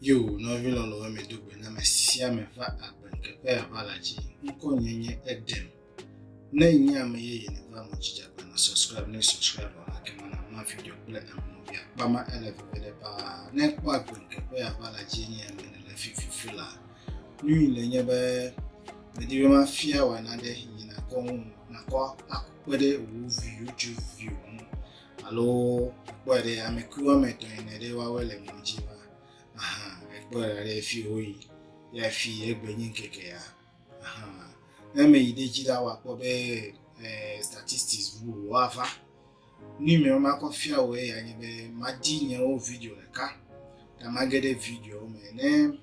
Yo, nɔvi lɔlɔ̃wo me do gbe na me sia me va agbe ŋkeke ya va la dzi. Ŋkɔ nye nye Edem. Ne nye ame yeye ne va mo dzi djagba na subscribe ne subscribe vɔ la kema na ma video kple ame via kpama ele veve ɖe paa. Ne kpɔ agbe ŋkeke ya va la dzi nye ame ne le fififi la. Nui le nye be medi be ma fia wa na ɖe yi na kɔ ŋu na kɔ akpe ɖe wo video djo video ŋu. Alo ekpɔe ɖe ame kui woame etɔ̃ ene ɖe woawoe le mɔ dzi va. Aha, ekpɔe ɖa ɖe fi woyi. Ya fi egbe nyi ŋkeke ya. Aha. Ne ame yi ɖe dzi ɖa woakpɔ be eh, statistics ŋu woava. Nu yi me makɔ fia wò eya nye be madi nyewo video ɖeka. Ta mage ɖe video me. Ne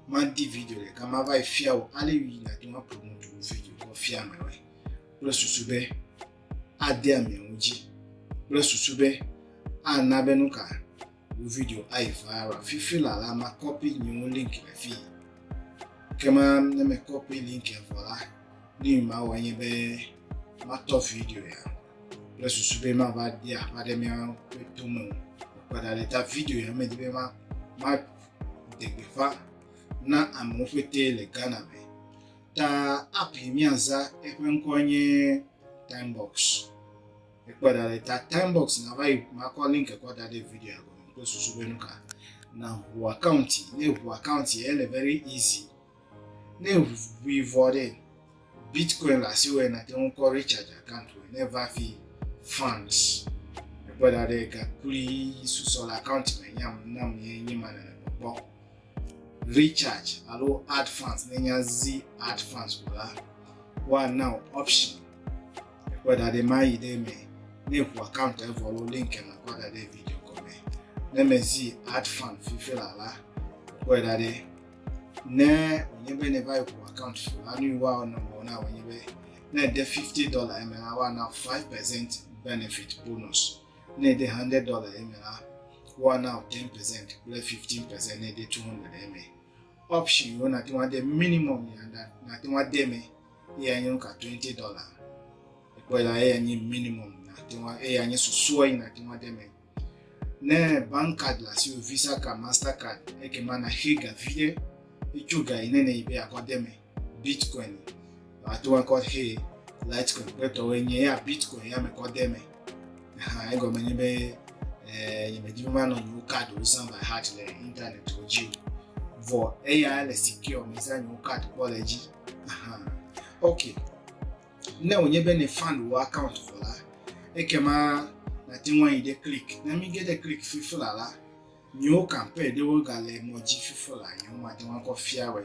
madi video ɖeka mava yi fia wò ale yi nàte ŋu aƒo nu video kɔ fia amewoe. Kple susu be adea mia ŋu dzi kple susu be ana be nu ka wo video ayi viral. Fifi la la ma kɔpi nyewo link le fi. Ke ma ne me kɔpi link vɔ la, ne ma wɔ nye be matɔ video ya kple susu be ma va di aƒa ɖe mia ƒe to me o. Kpɔɖa le ta video ya me di be ma ma degbeƒa na amewo ƒete le Ghana me. Ta app yi míaza eƒe ŋkɔe nye Timebox. Ekpɔ da ɖe ta Timebox nava yi makɔ link kɔ da ɖe video gɔme kple susu be nu ka. Na ʋu account ne ʋu account ye ele very easy. Ne ʋui vɔ ɖe Bitcoin le asi wɔ na te ŋu kɔ recharge account wɔ ne va fi funds. Ekpɔ da ɖe gakuli susɔ le account me nyam nam ye nye ma nana kpɔkpɔ. Recharge alo Add Funds, ne nye azi Add Funds ko la, woana wò option ekpɔe da ɖe mayi ɖe eme. Ne ŋu account evɔ alo link ema kɔ da ɖe video gɔme. Ne mezi Add Fund fifi la la, kpɔe da ɖe. Ne wònye be ne va yi ŋu account fi la, nu yi woawɔ na wò na wònye be ne de fifty dollar eme la, woana five percent benefit bonus. Ne ède 100 dɔla ɖe eme la, woana wò 10 percent kple 15 percent ne ède 200 ɖe eme. Option yiwo nàte ŋu ade minimum yi nàte ŋu ade eme eya nye nu ka 20 dɔla. Ekpɔe la, eya nye minimum nàte ŋu eya nye susua yi nàte ŋu ade eme. Ne bank card le asiwò, Visa card, Master card, ekema nàxe ga viɖe hetso ga yi ne nèyi be yeakɔ de eme. bitcoin ato akɔ he litecoin kple tɔwo nye ya bitcoin ya me kɔ de me ha egɔme nye be eh, nye me dzi ma nɔ nyewo card wo san by heart le internet wo dzi o vɔ eya le secure me san nyewo card kpɔ le dzi aha ok ne wònye be ne fan wò account vɔ la ekema nate ŋu ayi ɖe click ne mi ge ɖe click fifi la la nyewo campaign ɖewo gale mɔ dzi fifi la nyewo mate ŋu akɔ fia wɛ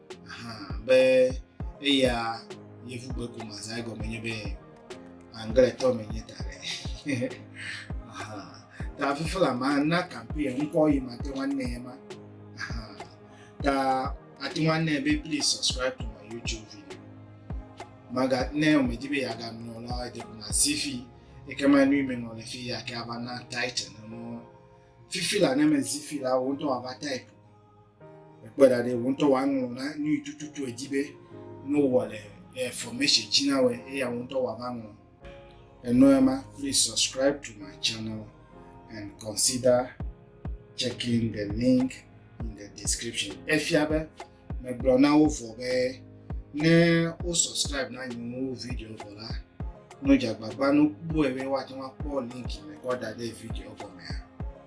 Aha be eya yevu gbe ko ma zã egɔme nye be angletɔ me nye ta ɖe. Ta fifi la ma na kampi ŋkɔ yi ma te ŋu anɛ ma. Ta ate ŋu anɛ be please subscribe to my YouTube video. Maga ne wòmedi be yeaganɔ la edze ko ma si fi eke ma nui menɔ le fi ya ke ava na title ne mɔ fifi la ne mezi fi la wo ŋutɔ ava type Ekpe ɖa ɖe wò ŋutɔ wò aŋlɔ na nu yi tututu èdi be ne wowɔ le eh, formation dzi na wòe eya wò ŋutɔ wò ava ŋlɔ. Ènɔ ema? Please subscribe to my channel and consider checking the link in the description. Efia be megblɔ na wo vɔ be. Ne wo subscribe na nye nuwo video vɔ la, no dze agbagba no kpɔe be woate ŋu akpɔ link me kɔ da ɖe video gɔmea.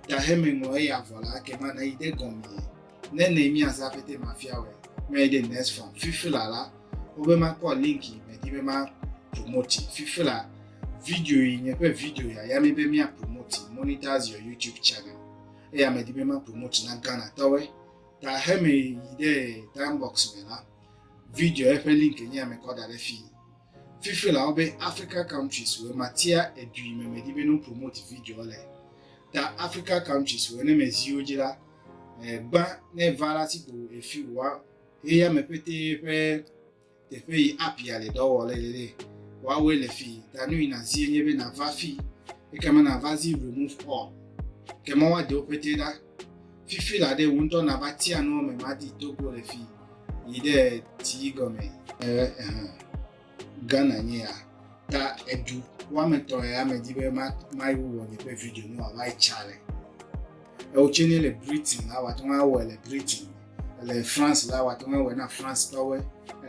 Ta heme ŋlɔ eya vɔ la, ke ma nayi ɖe gɔmee. Ne ne mi azã pete ma fia wɛ, me yi ɖe next farm. Fifi la la, wo be ma kpɔ link yi me di be ma promote. Fifi la, video yi nye ƒe video ya ya me be mia promote monetize your YouTube channel. Eya me di be ma promote na Ghana tɔwe. Da heme yi ɖe Diambox me la, video eƒe link nye ya mekɔ da ɖe fii. Fifi la wobe Africa countries wɔ matia edui me me di be no promote video le. Da Africa countries wɔ ne me ziwo dzi la, gba ne va la si ko efi wa eya me pete ƒe Teƒe yi abia le dɔ wɔ le le le. Wawe le fi da nu yi na zi nye be na va fi. Eke me na va zi remove all. Ke ma wa de wo pete da. Fifi la de wun tɔ na va tia nu me ma di to ko le fi. Yi de ti go me. Eh eh. Gana nye ya. Ta edu. Wa me to ya me di be ma ma yi wo nye pe video nu wa va chale. Ewotse ne le Britain la, wòate ŋu awɔe le Britain. Le France la, wòate ŋu awɔe na Francetɔwoe.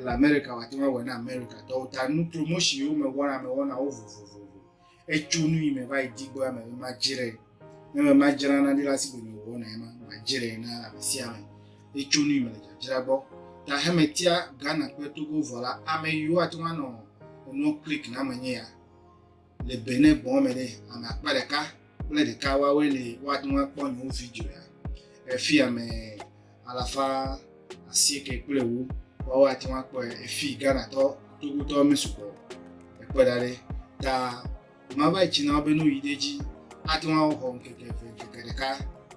Le Amerika, wòate ŋu awɔe na Amerikatɔwo. Ta nu promotion yi wome wɔna, ame wɔna wo vovovo. Etso nu yi me va yi di gbɔ ame be madzrae. Ne me madzra na ɖi la, sigbe me wɔna ye ma, madzrae na ame sia ame. Etso nu yi me le dzadzra gbɔ. Ta hemetia Ghana kple Togo vɔ la, ame yiwo ate ŋu anɔ enua click na me nye ya. Le Benin gbɔ̃ me ɖe, ame akpa ɖeka kple ɖeka woawoe li woate ŋu akpɔ nye video ya. Efi ame alafa asieke kple ewo woawo ate ŋu akpɔe. Efi Ghanatɔ, Togotɔ mesugbɔ ekpɔe da ɖi ta mava etsi na wo be ne woyi ɖe edzi ate ŋu axɔ ŋkeke eve, ŋkeke ɖeka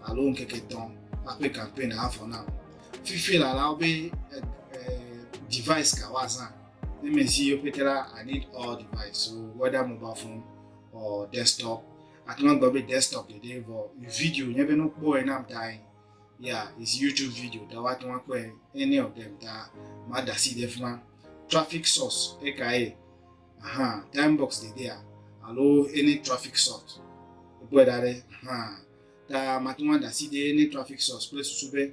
alo ŋkeke etɔ̃ aƒe campaign avɔ na wo. Fifi lala wo be eh, eh, device ka woazã. Ne mezi yewo pete la, I need all device, so whether mobile phone or desktop. Ate ŋu agblɔ be desktop ɖeɖe vɔ video nye be ne wokpɔe na dae. Yeah, it's YouTube video ta woate ŋu akpɔe any of them ta mada asi ɖe fi ma. Traffic source ekae? Aha, time box dedea alo any traffic source. Wokpɔe da ɖe aha ta mate ŋu ada asi ɖe any traffic source kple susu be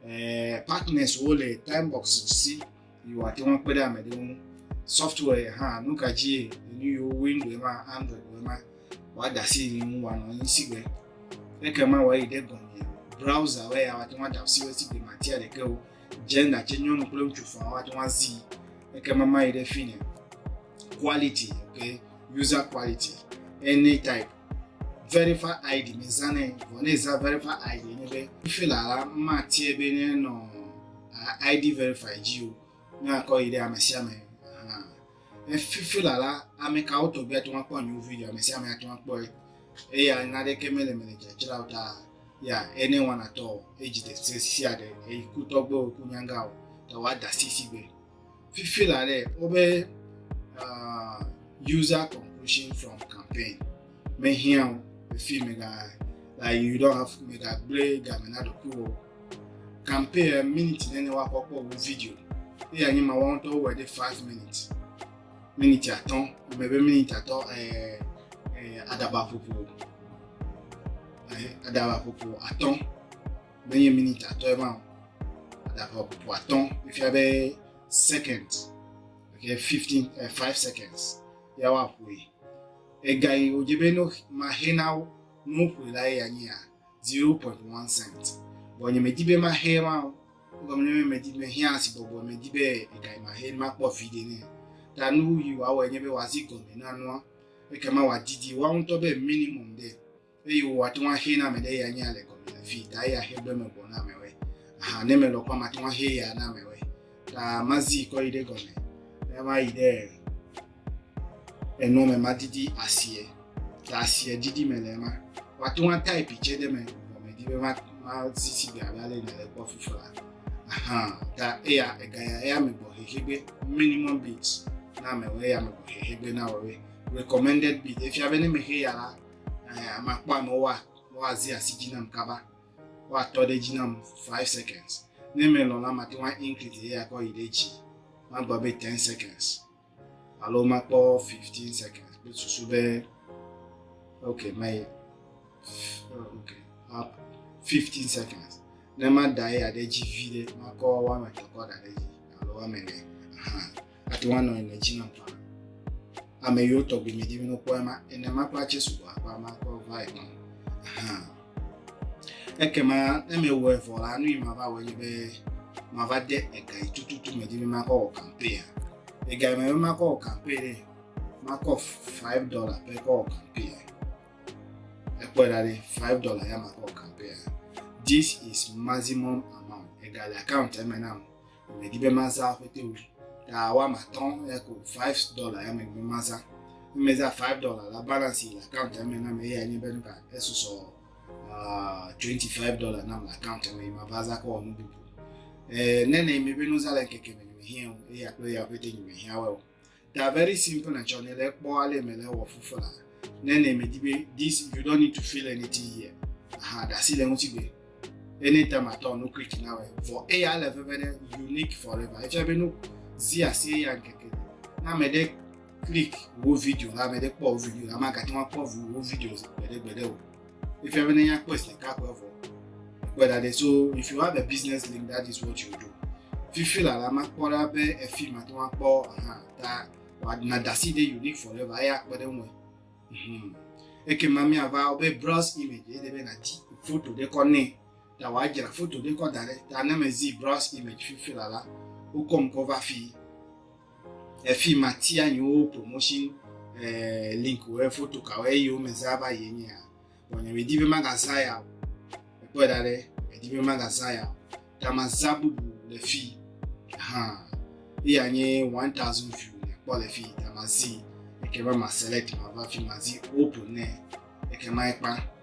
eh, partners wo le timebox si yi wòate ŋu akpe ɖe ame ɖe ŋu software hã nu ka dzie nu yiwo window ma android wo ma wòada asi yi ŋu wòanɔ anyi si gbe ekema wòayi ɖe gɔme browser wo ya wòate ŋu ada asi wo si gbe matia ɖeke o gender tse nyɔnu kple ŋutsu fɔa wòate ŋu azi ekema mayi ɖe fi ne quality okay user quality any type verify id me zãnɛ vɔ ne zã verify id ne be fila la ma tiɛ be ne nɔ id verify dzi o ne akɔ yi ɖe ame sia ame ne fila la ame kawo tɔgbi atɔ akpɔ nyewo video ame sia ame atɔ akpɔ eya naɖeke mele mele dzadzra o ta ya ene wanatɔ edzi ɖe sia ɖe eyi kutɔgbewo kunyanga o ta wa da sisi gbe Fifi la ɖe wobe uh, user conclusion from campaign mehiã o efi mega like you don't have mega gblẽ game na ɖokuiwò campaign eh, minute nene woakpɔ kpɔ wo video eya nye ma wɔn tɔ wɔ ɖe five minutes minute atɔ ame be minute atɔ ɛɛ eh, ɛɛ eh, adaba ƒoƒo ɛɛ adaba ƒoƒo atɔ. menye minute atɔ ye ma o adava bubu atɔ efia be second okay fifteen uh, five seconds ya wa ƒoe ega yi wodze be no ma he na wo no ƒoe la ye anyi ya zero point one cent bɔn nye medi be ma he ma o gɔme nye be medi me he asi bɔbɔ medi be ega yi ma he ma kpɔ vi de ne ta nu yi wa wɔ nye be wa zi gɔme na nua ekema wa didi wa ŋutɔ be minimum de. eye wò ate ŋu axe na ame ɖe ya nya le gɔme le fi ta eya xe gbe me gbɔ na ame wɛ aha ne me lɔ kɔ mate ŋu axe ya na ame wɛ ta mazi kɔ yi ɖe gɔme ne ma yi ɖe enɔ me ma didi asie ta asie didi me le ma wate ŋu ata epi tse ɖe me gɔme di be ma ma sisi gbe abe ale yi le gbɔ fufu la aha ta eya ega ya eya me gbɔ xexe gbe minimum bit na ame wɛ eya me gbɔ xexe gbe na wɔ wɛ recommended bit efia be ne me xe ya la Eh, makpɔ amewo wa, woazi asi dzi nam kaba. Woatɔ ɖe dzi nam five seconds. Ne melɔ̃ la, mate ŋu increase eya kɔ yi ɖe dzi. Magblɔ be ten seconds. Alo makpɔ fifteen seconds kple susu be ok mayi ok fifteen seconds. Ne mada eya ɖe dzi vi ɖe, makɔ woame etɔ̃ kɔ da ɖe dzi alo woame ene. ate ŋu anɔ le dzi nam faa. Ame yiwo tɔgbi me dimi nokpɔ ema ene ma kpla Jesu wɔ aƒa ma kɔ va ema. Aha. Ekema ne me wɔ evɔ la nu yi ma va wɔ nye be ma va de ega yi tututu me dimi ma kɔ wɔ kampe ya. Ega yi me be ma kɔ wɔ kampe ɖe ma kɔ five dollar pe kɔ wɔ kampe ya. Ekpɔ ɖa ɖe five dollar ya ma kɔ wɔ kampe ya. This is maximum amount. Ega le account eme nam. Medi be mazã akpete o. Ta woame atɔ̃ eya ko five dollar ya medi be mazã. Ne mezã five dollar la, balance yi le account ya me na me eya nye be nu ka esusɔ uh, twenty five dollar nam le account ya me yi mava zã kɔ wɔ nu bubu. Eh, ne nɛ mi be nuzã le ŋkeke me nyemehiã o eya kple eya akpete nyemehiã wɛ o. They are very simple and tsɔ ne le kpɔ ale me le wɔ fufu la. Ne ne me di be this you don't need to feel anything here. Aha da si le ŋuti be anytime at all no creek na we. For a ya le veve ne unique forever. Echa be no zi asi ya keke. Na me de click wo video la me de kpɔ video la ma ka ti ma kpɔ video gbede gbede o. Efia be ne ya kpɔe sika kpɔe vɔ. Kpɔe da ɖe so if you have a business link that is what you do. Fifi la la makpɔ ɖa be efi ma to akpɔ aha ta wadana dasi ɖe unique forever eya kpɔ ɖe ŋue. Mhm. Eke ma mi ava wo be browse image ede be na di foto ɖe kɔ ne ta wa jira foto ɖe kɔ da ɖe ta ne me zi browse image fifi la la wokɔm kɔ va fi. efi matia nyiwo promotion eh, link wɔ foto kawo eye wo me zaa va yi nye ya bɔn nye medi be maga za ya o ekpɔ da ɖe medi be maga za ya o ta ma za bubu le fi hã eya nye one thousand view ne kpɔ le fi ta ma zi eke ma ma select ma va fi ma zi open ne eke ma ekpa.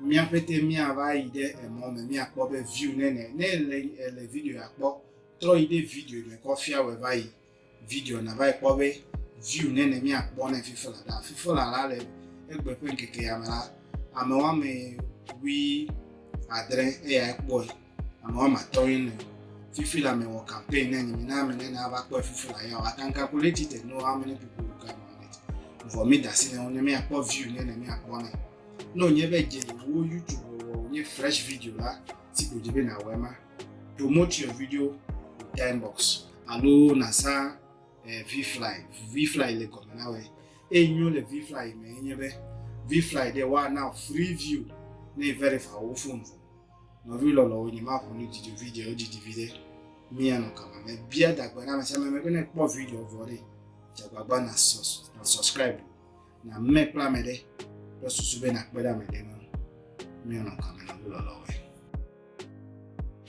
Mía ƒete mía va yi ɖe emɔ me mía kpɔ be view nene. Ne èle èle video ya kpɔ, trɔ yi ɖe video me kɔ fia wɔe va yi video na va yi kpɔ be view nene mía kpɔ ne fifa la ɖa. Fifa la la le egbe ƒe ŋkeke ya me la, ame woame wui adre eyae kpɔe. ame woame atɔ̃ ye le fifi le ame wɔ campaign ne nyimi na ame ne na va kpɔ fifi le ya wa can calculate it and know how many people will come on it vɔ mi da si ne wo ne mi akpɔ view ne ne mi akpɔ ne ne wònye be dze wo youtube wɔ wònye fresh video la si ko dzi be na wɔ ema promote your video time box alo na sa eh, vfly vfly le gɔme na wɔ eye nyo le vfly me enye be vfly de wa na free view ne verify wo phone vɔ. Nɔvi lɔlɔwo, nyemaʋu nu dzidzo video didi viɖe. Mia nɔ kama me bia dagbe na me sia me be ne kpɔ video vɔ ɖe, dze agbagba na sus na subscribe na me kple ame ɖe kple susu be nakpe ɖe ame ɖe ŋu. Mia nɔ kama na ʋu lɔlɔwo.